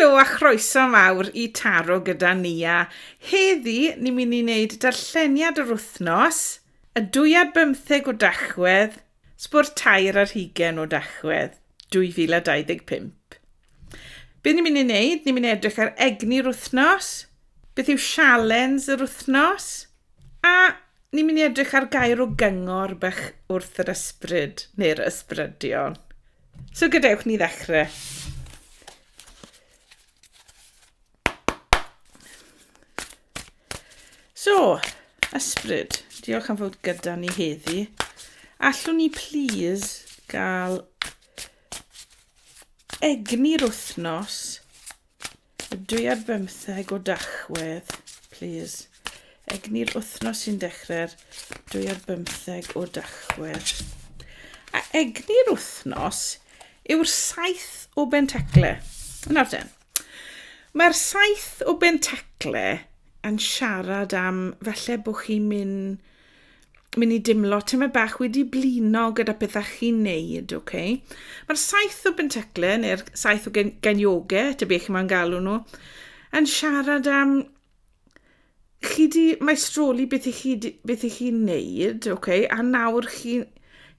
Helo a chroeso mawr i Taro gyda Nia. Heddi, ni'n mynd i wneud darlleniad yr wythnos, y dwy ar bymtheg o Dachwedd, sbo'r tair ar hugain o Dachwedd, 2025. Be ni'n mynd i wneud? Ni'n mynd i edrych ar egni'r wythnos, beth yw sialens yr wythnos, a Ni'n mynd i edrych ar gair o gyngor bach wrth yr ysbryd, neu'r ysbrydion. So gadewch ni ddechrau. So, ysbryd, diolch am fod gyda ni heddi. Allwn ni please gael egni'r wythnos Dwi ar bymtheg o Dachwedd, plîs. Egni'r wythnos sy'n dechrau'r dwi ar bymtheg o Dachwedd. A egni'r wythnos yw'r saith o bentacle. Nawr ten. Mae'r saith o bentacle yn siarad am falle bod chi'n mynd Mi'n i dimlo tyma bach wedi blino gyda pethau chi'n neud, oce? Okay? Mae'r saith o bentaclau, neu'r saith o genioge, ta beth chi'n ma'n galw nhw, yn siarad am chi di maestroli beth i chi, beth i chi'n neud, oce? Okay? A nawr chi'n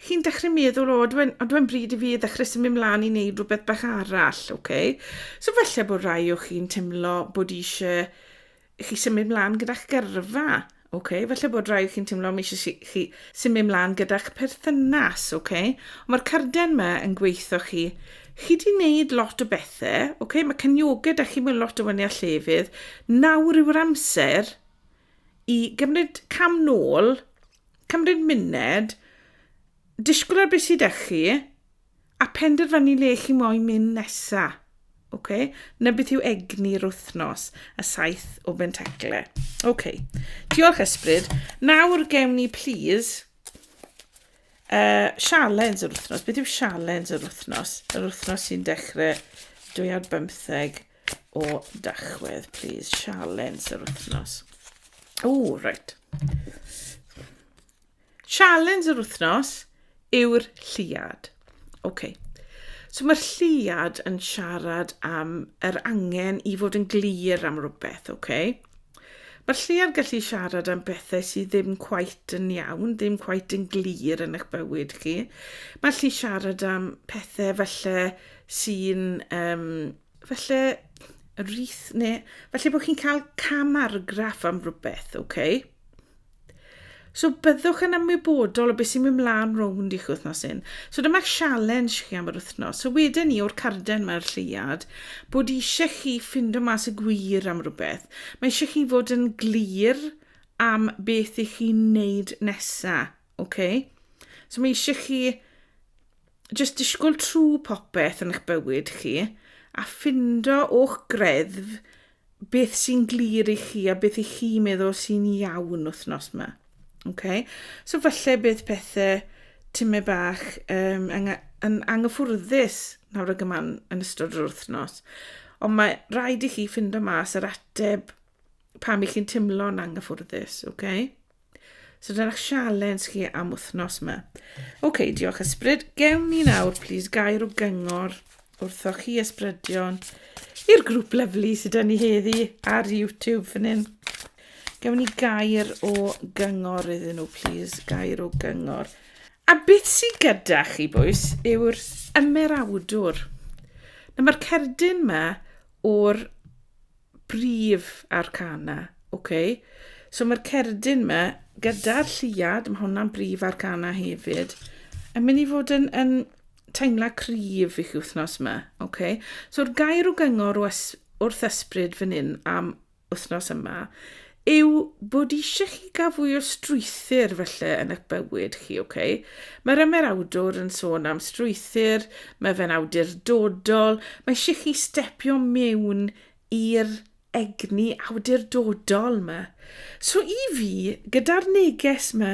chi'n dechrau meddwl, o, dwi'n dwi bryd i fi ddechrau symud mlaen i wneud rhywbeth bach arall, oce? Okay? So falle bod rai o chi'n teimlo bod eisiau i chi symud mlaen gyda'ch gyrfa. Okay? Felly bod rhaid chi'n teimlo mi eisiau chi symud mlaen gyda'ch perthynas. Okay? Mae'r carden yma yn gweithio chi. Chi di wneud lot o bethau. Okay? Mae cynioga da chi mewn lot o fyny a llefydd. Nawr yw'r amser i gymryd cam nôl, cymryd myned, disgwyl ar beth sydd â chi, A phenderfynu le chi moyn mynd nesa. Ok, 'na beth yw egni'r wythnos, y saith o bentacle. Ok, diolch ysbryd. Nawr gewn ni, please, uh, sialens yr wythnos. Beth yw sialens yr wythnos? Yr wythnos sy'n dechrau dwy ar bymtheg o dachwedd, please. Sialens yr wythnos. O, right. Challenge yr wythnos yw'r lliad. OK. So mae'r lliad yn siarad am yr angen i fod yn glir am rhywbeth, OK. Mae'r lliad gallu siarad am bethau sydd ddim cwait yn iawn, ddim cwait yn glir yn eich bywyd chi. Mae gallu siarad am pethau felly sy'n, um, felly rith neu felly bod chi'n cael cam argraff am rhywbeth, OK. So byddwch yn ymwybodol o beth sy'n mynd mlaen rownd i'ch wythnos hyn. So dyma challenge chi am yr wythnos. So wedyn ni o'r carden mae'r lleiad bod eisiau chi ffindo mas y gwir am rhywbeth. Mae eisiau chi fod yn glir am beth i chi wneud nesa. Okay? So mae eisiau chi just disgwyl trwy popeth yn eich bywyd chi a ffindo o'ch greddf beth sy'n glir i chi a beth i chi meddwl sy'n iawn wythnos yma. Okay? So falle bydd pethau tyme bach um, yn, yn anghyffwrddus nawr ag yma yn ystod yr wythnos. Ond mae rhaid i chi ffindo mas yr ateb pam i chi'n teimlo'n anghyffwrddus, oce? Okay? So dyna sialens chi am wythnos yma. Oce, okay, diolch ysbryd. Gewn ni nawr, plis, gair o gyngor wrthoch chi ysbrydion i'r grŵp lyflu sydd dyn ni heddi ar YouTube fan hyn. Gewn ni gair o gyngor iddyn nhw, plis, gair o gyngor. A beth sydd gyda chi, bwys, yw'r ymerawdwr. Na, mae'r cerdyn yma o'r brif arcana, ok? So mae'r cerdyn yma, gyda'r lliad, mae hwnna'n brif arcana hefyd, yn mynd i fod yn, yn teimla cryf i chi wythnos yma, ok? So'r gair o gyngor wrth ysbryd fan hyn am wythnos yma yw bod eisiau chi gael fwy o strwythyr felly yn eich bywyd chi, ok? Mae'r ymerawdwr yn sôn am strwythyr, mae fe'n awdurdodol, mae eisiau chi stepio mewn i'r egni awdurdodol yma. So i fi, gyda'r neges yma,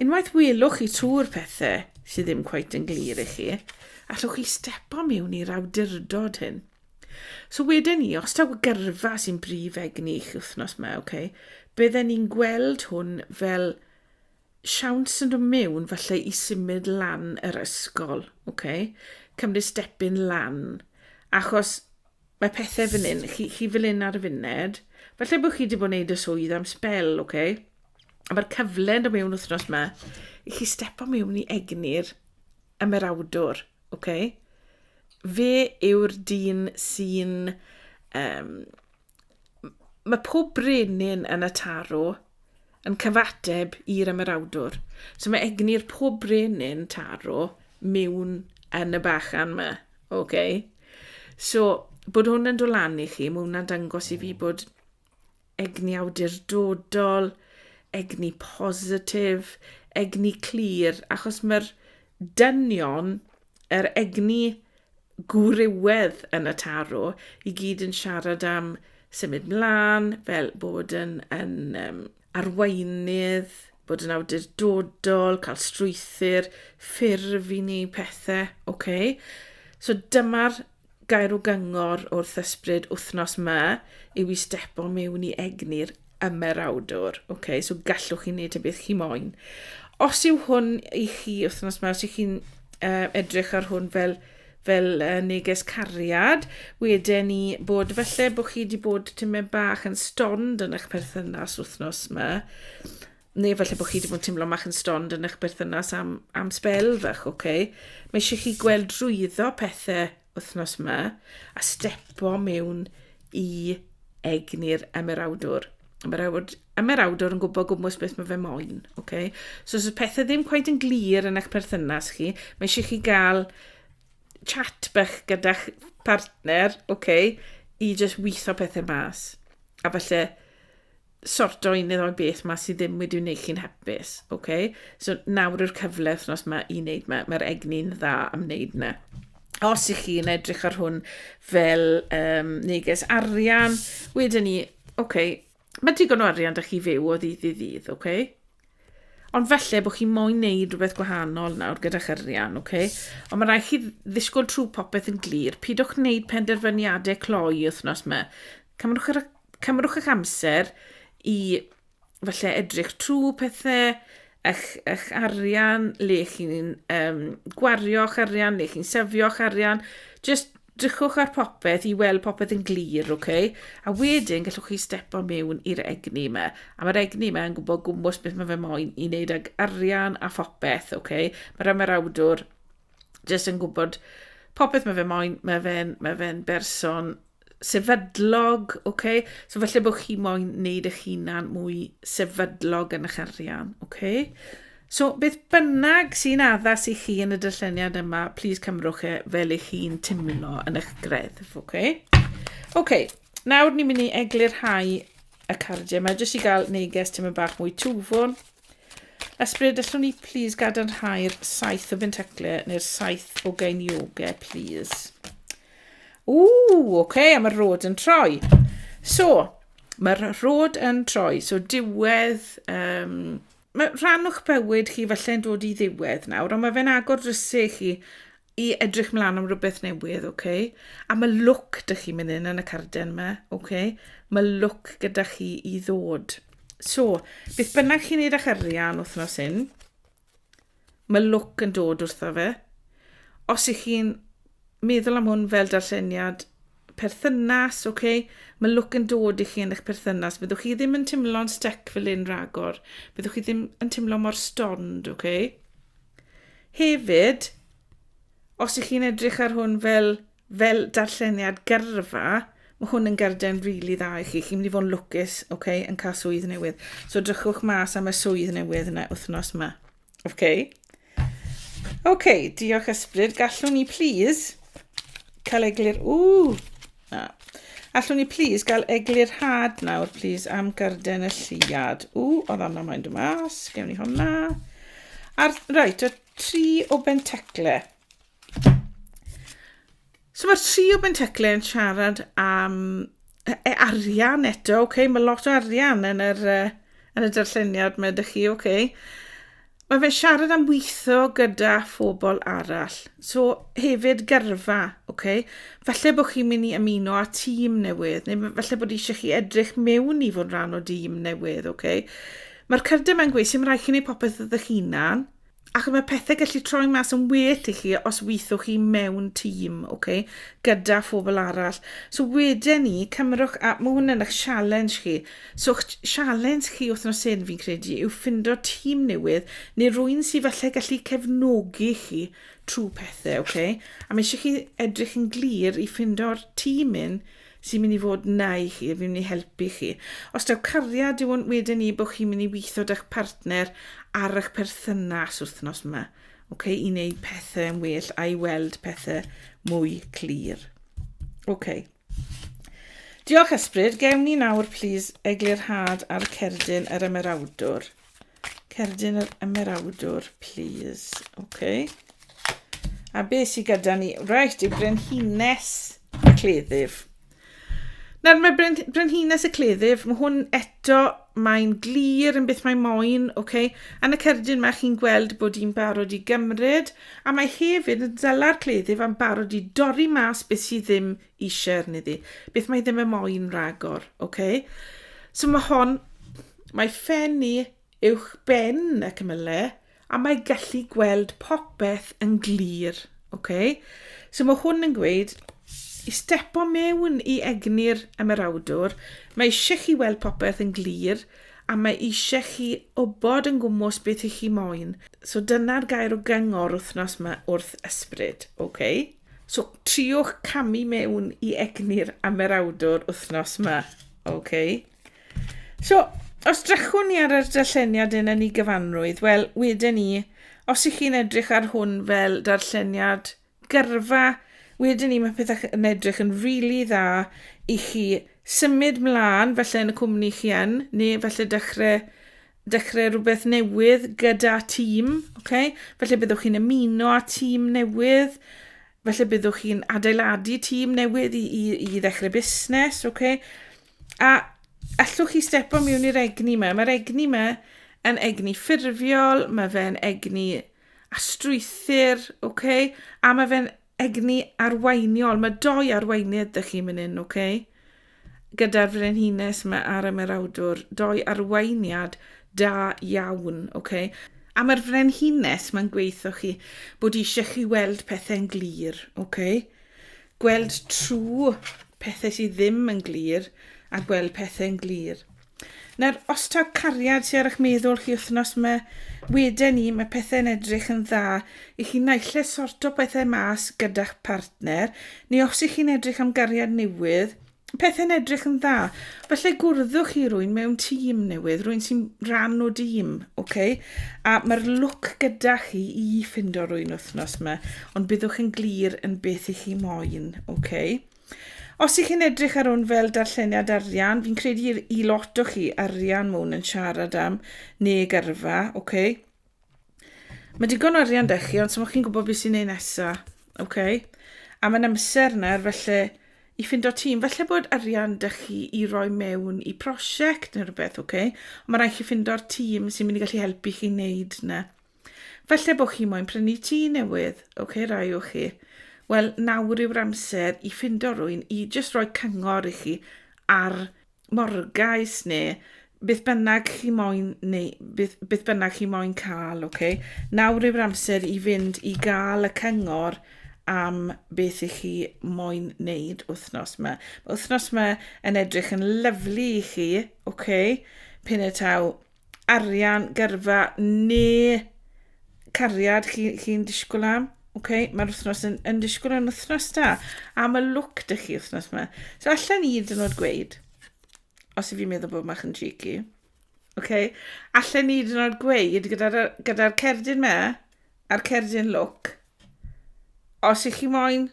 Unwaith welwch chi twr pethe sydd ddim cweit yn glir i chi, allwch chi stepo mewn i'r awdurdod hyn. So wedyn ni, os taw gyrfa sy'n brif egni chi wythnos yma, okay, bydden ni'n gweld hwn fel siawns yn dod mewn falle i symud lan yr ysgol, okay? cymryd stepyn lan, achos Mae pethe fan hyn, chi, chi fel hyn ar y funud. Felly bod chi wedi bod yn neud y swydd am sbel, oce? Okay? A mae'r cyfle yn dod mewn wythnos yma i chi stepo mewn i egni'r ymerawdwr, oce? Okay? Fe yw'r dyn sy'n... Um, mae pob brenin yn y tarw Yn cyfateb i'r ymerawdwr. So mae egni'r pob brenin taro mewn yn y bachan ma. OK? So, bod hwn yn dolan i chi, mae hwnna'n dangos i fi bod egni awdurdodol, egni positif, egni clir, achos mae'r Dynion yr egni gwrywedd yn y tarw i gyd yn siarad am symud mlaen, fel bod yn, yn um, arweinydd, bod yn awdurdodol, cael strwythyr, ffurf i ni pethau, oce? Okay? So dyma'r Gairw gyngor wrth ysbryd wythnos 'ma yw i stepo mewn i egni'r ymerawdwr. Ok, so gallwch chi wneud y beth chi moyn. Os yw hwn i chi wythnos 'ma, os ych chi'n uh, edrych ar hwn fel fel uh, neges cariad, wedyn ni bod felly bod chi wedi bod tymed bach yn stond yn eich perthynas wythnos yma, Neu efallai bod chi wedi bod yn teimlo mach yn stond yn eich berthynas am, am spel fach, oce? Okay? Mae eisiau chi gweld drwyddo pethau wythnos yma a stepo mewn i egni'r emerawdwr. Emerawd, emerawdwr yn gwybod gwmwys beth mae fe moyn, oce? Okay? So os y pethau ddim quite yn glir yn eich perthynas chi, mae eisiau chi gael chat bach gyda'ch partner, oce, okay, i just witho pethau mas. A falle sorto un neu ddoi beth ma sydd ddim wedi wneud chi'n hapus, oce? Okay? So nawr yw'r cyfle wythnos ma i wneud ma, mae'r egni'n dda am wneud na. Os ych chi'n edrych ar hwn fel um, neges arian, wedyn ni, oce, okay, mae digon o arian da chi fyw o ddydd i ddydd, oce? Okay? Ond falle bod chi moyn neud rhywbeth gwahanol nawr gyda'ch arian, oce? Okay? Ond mae rhaid chi ddisgwyl trwy popeth yn glir. Pidwch wneud penderfyniadau cloi wythnos yma. Cymrwch, yr, cymrwch eich amser i falle edrych trwy pethau, eich, eich arian, le chi'n um, gwario'ch arian, le chi'n sefio'ch arian. Just Drychwch ar popeth i weld popeth yn glir, ok? A wedyn gallwch chi stepo mewn i'r egni yma. A mae'r egni yma yn gwybod gwmwys beth mae fe moyn i wneud ag arian a phopeth, ok? Mae'r ymarawdwr jyst yn gwybod popeth mae fe moyn, mae fe'n mae fe berson sefydlog, ok? So felly bod chi moyn wneud eich hunan mwy sefydlog yn eich arian, ok? So, beth bynnag sy'n addas i chi yn y dyllyniad yma, plîs cymrwch e fel eich chi'n timlo yn eich greddf, oce? Okay? Oce, okay, nawr ni'n mynd i eglurhau y cardiau yma, jyst i gael neges tymor bach mwy twfwn. Ysbryd, allwn ni plîs gadarnhau'r saith o bentaclau neu'r saith o gainiogau, plîs? Ww, oce, okay, a mae'r rod yn troi. So, mae'r rod yn troi, so diwedd... Um, Mae rhan o'ch bywyd chi falle'n dod i ddiwedd nawr, ond mae fe'n agor drysau i chi i edrych mlaen am rhywbeth newydd, oce? Okay? A mae look dych chi'n mynd yn yn y carden yma, oce? Okay? Mae look gyda chi i ddod. So, beth bynnag chi'n neud â'ch arian wythnos hyn, Mae lwc yn dod wrtho fe. Os ych chi'n meddwl am hwn fel darlleniad perthynas, oce, okay, mae lwc yn dod i chi yn eich perthynas. Byddwch chi ddim yn teimlo'n stec fel un ragor. Byddwch chi ddim yn teimlo mor stond, oce. Okay? Hefyd, os ych chi'n edrych ar hwn fel fel darlleniad gyrfa, mae hwn yn garden rili dda i chi. Chi'n mynd i fod yn lwcus, ok, yn cael swydd newydd. So drychwch mas am y swydd newydd yna wythnos yma. Ok? Ok, diolch ysbryd. Gallwn ni please cael eglur... Ww! Na. Allwn ni please gael eglur had nawr, please, am garden y lliad. Ww, oedd anna mae'n dod mas. Gewn ni hwnna. A'r, right, y tri o bentacle. So mae'r tri o Benteclyn yn siarad am e, e, arian eto, oce, okay? mae lot o arian yn yr, uh, yn y darlleniad mae ydych chi, oce. Okay? Mae fe'n siarad am weithio gyda phobl arall. So hefyd gyrfa, oce. Okay? Falle bod chi'n mynd i ymuno â tîm newydd, neu falle bod eisiau chi edrych mewn i fod rhan o dîm newydd, oce. Okay? Mae'r cyrdyr mae'n gweud sy'n rhaid chi'n ei popeth ydych hunan, Ac mae pethau gallu troi mas yn well i chi os weithwch chi mewn tîm, okay, gyda phobl arall. So wedyn ni, cymrwch, a mae hwn yn eich sialens chi. So eich sialens chi wythnos hyn, fi'n credu, yw ffindo tîm newydd, neu rwy'n sy'n falle gallu cefnogi chi trwy pethau, okay? A mae eisiau chi edrych yn glir i ffindo'r tîm un sy'n mynd i fod yna i chi, fi'n mynd i helpu chi. Os daw cariad, yw hwn wedyn ni bod chi'n mynd i weithio da'ch partner ar eich perthynas wythnos yma, okay, i wneud pethau yn well a'i weld pethau mwy clir. Okay. Diolch ysbryd, gewn ni nawr plis eglurhad ar cerdyn yr ymerawdwr. Cerdyn yr Ymerawdwr, please. OK. A be sydd gyda ni? Reit, yw Brenhines y Cleddyf. Nawr mae Bren Brenhines y Cleddyf, mae hwn eto, mae'n glir yn beth mae moyn, oce? Okay? Yn y cerdyn mae chi'n gweld bod hi'n barod i gymryd, a mae hefyd yn dala'r cleddyf am barod i dorri mas beth sydd ddim i share ni ddi. Beth mae ddim yn moyn ragor, oce? Okay? So mae hon, mae ffen i uwch ben y cymyle, a mae gallu gweld popeth yn glir, oce? Okay? So mae hwn yn gweud, i stepo mewn i egni'r ymerawdwr, mae eisiau chi weld popeth yn glir, a mae eisiau chi obod yn gwmwys beth i chi moyn. So dyna'r gair o gyngor wythnos yma wrth ysbryd, oce? Okay? So triwch camu mewn i egni'r amerawdwr wythnos yma. OK. So, os drachwn ni ar yr darlleniad yn yn ei gyfanrwydd, wel, wedyn ni, os ych chi'n edrych ar hwn fel darlleniad gyrfa, wedyn ni mae pethau yn edrych yn rili really dda i chi symud mlaen, felly yn y cwmni chi yn, neu felly dechrau dechrau rhywbeth newydd gyda tîm, okay? felly byddwch chi'n ymuno â tîm newydd, felly byddwch chi'n adeiladu tîm newydd i, i, i ddechrau busnes, okay? a allwch chi stepo mewn i'r egni yma. Mae'r egni yma yn egni ffurfiol, mae fe'n egni astrwythyr, okay? a mae fe'n Egni arweiniol. Mae dou arweinydd da chi myn yn, ok? Gyda'r frenhines ma ar y merawdwr. Dou arweiniad da iawn, ok? A mae'r frenhines ma'n gweitho chi bod eisiau chi weld pethau'n glir, ok? Gweld trwy pethau sydd ddim yn glir a gweld pethau'n glir. Nawr os taw cariad sy ar ych meddwl chi wthnos ma wede ni ma pethe'n edrych yn dda i chi naille sorto pethe mas gyda'ch partner neu os i chi'n edrych am gariad newydd pethe'n edrych yn dda falle gwrddwch chi rwyn mewn tîm newydd rwyn sy'n ran o dîm ok a ma'r lwc gyda chi i ffindo rwyn wthnos ma ond byddwch yn glir yn beth i chi moyn ok Os ych chi'n edrych ar hwn fel darlleniad arian, fi'n credu i lot o chi arian mwn yn siarad am neu gyrfa, oce? Okay? Mae digon o arian da chi, ond sy'n chi'n gwybod beth sy'n ei nesa, oce? Okay? A mae'n amser nawr, felly, i ffind o tîm. Felly bod arian da chi i roi mewn i prosiect neu rhywbeth, oce? Okay? Ond mae rhaid chi ffind o'r tîm sy'n mynd i gallu helpu chi wneud na. Falle bod chi moyn prynu tŷ newydd, ok rai o chi. Wel, nawr yw'r amser i ffindo rwy'n i jyst roi cyngor i chi ar morgais neu beth bynnag chi moyn neu beth, beth bynnag chi moyn cael, ok? Nawr yw'r amser i fynd i gael y cyngor am beth i chi moyn wneud wythnos yma. Mae wythnos yma yn edrych yn lyflu i chi, ok? Pin y taw arian, gyrfa neu cariad chi, chi'n disgwyl am. Okay, mae'r wythnos yn, yn disgwyl yn wythnos da. A mae look dych chi wythnos yma. So allan i hyd yn oed gweud, os i fi'n meddwl bod mach yn cheeky, okay, allan i hyd yn oed gweud gyda'r gyda cerdyn me a'r cerdyn look, os ych chi moyn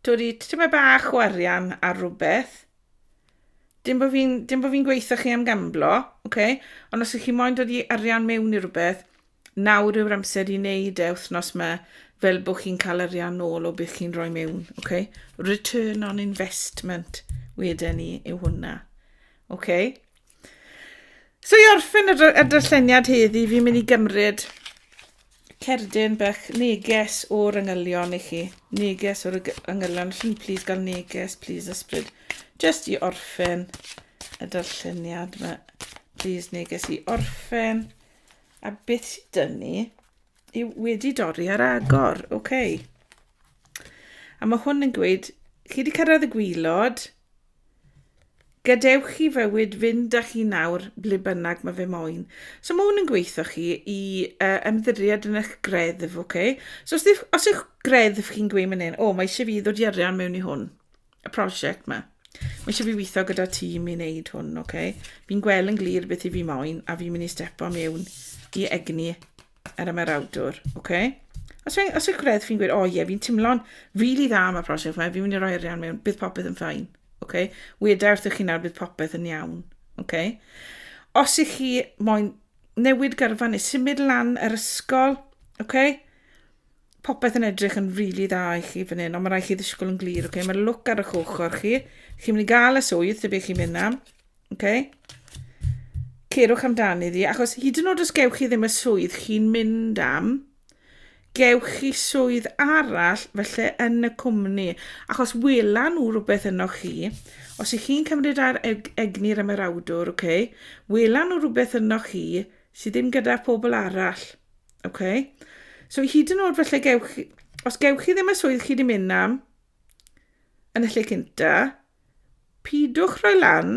dod i tyma bach o arian ar rhywbeth, Dim bod fi'n dim bod fi'n gweithio chi am gamblo, oce? Ond os ych chi moyn dod i arian mewn i rhywbeth, nawr yw'r amser i wneud e wythnos yma fel bod chi'n cael arian nôl o beth chi'n rhoi mewn, oce? Return on investment wedyn ni yw hwnna. Oce? So i orffen y, y darlleniad heddi, fi'n mynd i gymryd cerdyn bach neges o'r yngylion i chi. Neges o'r yngylion. Chi'n please gael neges, please ysbryd. Just i orffen y darlleniad yma. Please neges i orffen. A beth sydd dyn ni yw wedi dorri ar agor. Oce. Okay. A mae hwn yn gweud, chi wedi cyrraedd y gwylod, Gadewch chi fywyd fynd â chi nawr ble bynnag mae fe moyn. So mae hwn yn gweithio chi i uh, ymddiried yn eich greddf, oce? Okay? So os, os yw'ch greddf chi'n gweud mynd hyn, o, mae eisiau fi ddod i arian mewn i hwn, y prosiect yma. Mae eisiau fi weithio gyda tîm i wneud hwn, oce? Okay? Fi'n gweld yn glir beth i fi moyn, a fi'n mynd i stepo mewn i egni Ar yma'r awdwr, oce. Okay. Os yw'n os yw gwredd fi'n gweud, o oh, ie, yeah, fi'n timlo'n rili dda am y prosiect yma, fi'n mynd i roi arian mewn, bydd popeth yn ffain. Okay? Weda wrthych chi nawr bydd popeth yn iawn. Okay? Os ych chi moyn newid gyrfa neu symud lan yr ysgol, okay? popeth yn edrych yn rili really dda i chi fan hyn, ond mae rhaid chi ddisgwyl yn glir. Okay? Mae'r look ar eich ochr chi. Chi'n mynd i gael y swydd, dyby chi'n mynd am. Okay? Cerwch amdani ddi, achos hyd yn oed os gewch chi ddim y swydd chi'n mynd am, gewch chi swydd arall felly yn y cwmni, achos wela nhw rhywbeth yno chi, os ych chi'n cymryd ar eg egni'r ymerawdwr, okay, wela nhw rhywbeth yno chi sydd ddim gyda phobl arall. Okay? So hyd yn oed felly gewch chi, os gewch chi ddim y swydd chi wedi mynd am, yn y lle cynta, pidwch rhoi lan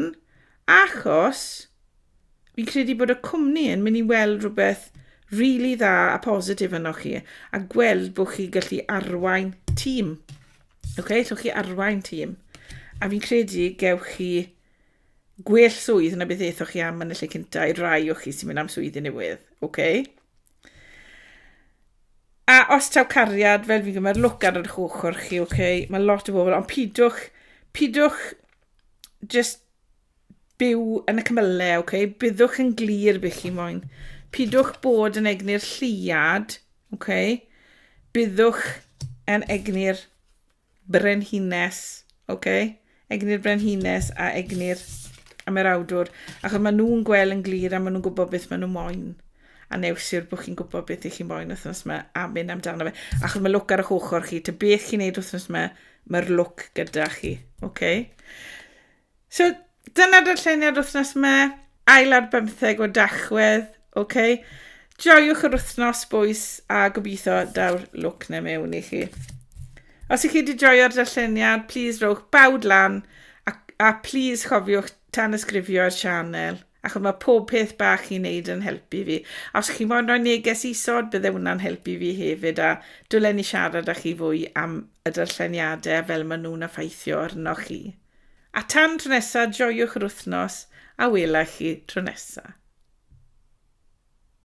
achos fi'n credu bod y cwmni yn mynd i weld rhywbeth rili really dda a positif yno chi a gweld bod chi gallu arwain tîm. Oce, okay? llwch chi arwain tîm. A fi'n credu gewch chi Gwell swydd na beth aethoch chi am yn y lle cynta i'r rai o chi sy'n mynd am swyddi newydd, oce? A os taw cariad, fel fi'n gwybod, mae'r lwc ar yr ochr chi, oce? Mae lot o bobl, ond pidwch, pidwch just byw yn y cymylau, oce? Byddwch yn glir be chi moyn. Pidwch bod yn egni'r lliad, oce? Byddwch yn egni'r brenhines, ok? Egni'r brenhines a egni'r ymerawdwr, achos maen nhw'n gweld yn glir a maen nhw'n gwybod beth maen nhw moyn. A news yw'r bod chi'n gwybod beth ych chi'n moyn wythnos yma a mynd amdano fe. Achos mae look ar eich ochr chi, ta beth chi'n neud wythnos yma, mae'r look gyda chi, ok? So, dyna darlleniad wythnos yma, ail ar bymtheg o dachwedd, oce? Okay? Joiwch yr wythnos bwys a gobeithio daw'r lwc na mewn i chi. Os ych chi wedi joio'r darlleniad, please rowch bawd lan a, a please chofiwch tan ysgrifio'r sianel achos mae pob peth bach chi'n neud yn helpu fi. A os chi'n moyn rhoi neges isod, bydde hwnna'n helpu fi hefyd, a dwlen ni siarad â chi fwy am y darlleniadau fel maen nhw'n effeithio arnoch chi. A tan tro nesa, joiwch yr wythnos a wela chi tro nesa.